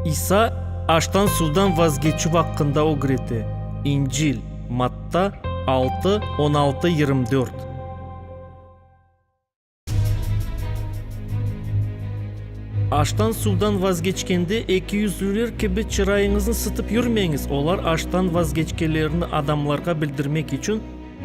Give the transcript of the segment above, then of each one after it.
İsa aştan-suvdan vazgeçüv aqqında ögrete, İncil, Matta altı, on altı, yirmi dört. Aştan-suvdan vazgeçkende ekiyüzlüler kibi çırayıñıznı sıtıp yürmeñiz, olar aştan vazgeçkenlerini adamlarğa bildirmek içün,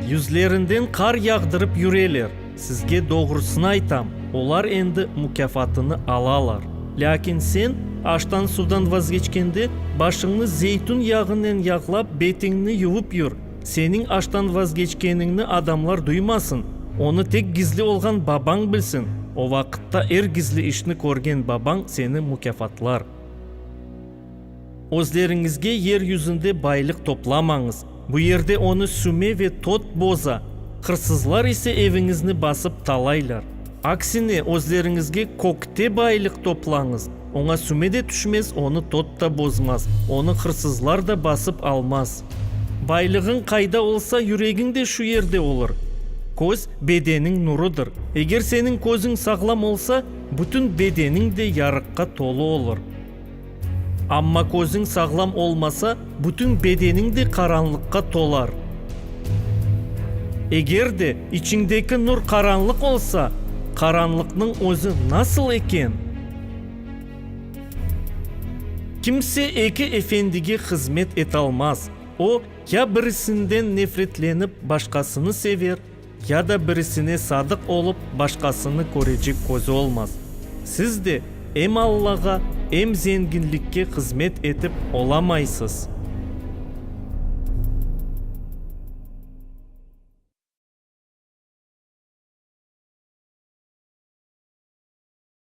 Yüzlerinden qar yağdırıp yüreler. Sizge doğrusını aytam, olar endi mukâfatını alalar. Lâkin sen, aştan-suvdan vazgeçkende, başıñnı zeytün yağınen yağlap, betiñni yuvıp yür, seniñ aştan vazgeçkeniñni adamlar duymasın, onı tek gizli olğan Babañ bilsin, o vaqıtta er gizli işni körgen Babañ seni mukâfatlar. Özleriñizge yer yüzünde baylıq toplamañız, bu yerde onı süme ve tot boza, hırsızlar ise eviñizni basıp talaylar. Aksine, özleriñizge kökte baylıq toplañız, oña süme de tüşmez, onı tot da bozmaz, onı hırsızlar da basıp almaz. Baylığıñ qayda olsa, yüregiñ de şu yerde olur. Köz, bedeniñ nurıdır. Eger seniñ közüñ sağlam olsa, bütün bedeniñ de yarıqqa tolu olur. Amma közüñ sağlam olmasa, bütün bedeniñ de qaranlıqqa tolar. Eger de içiñdeki nur qaranlıq olsa, qaranlıqnıñ özü nasıl eken? Kimse eki efendige hızmet etalmaz. O, ya birisinden nefretlenip, başqasını sever, Ya da birisine sadıq olıp, başqasını körecek közü olmaz. Siz de em Allağa, em zenginlikke hızmet etip olamaysız.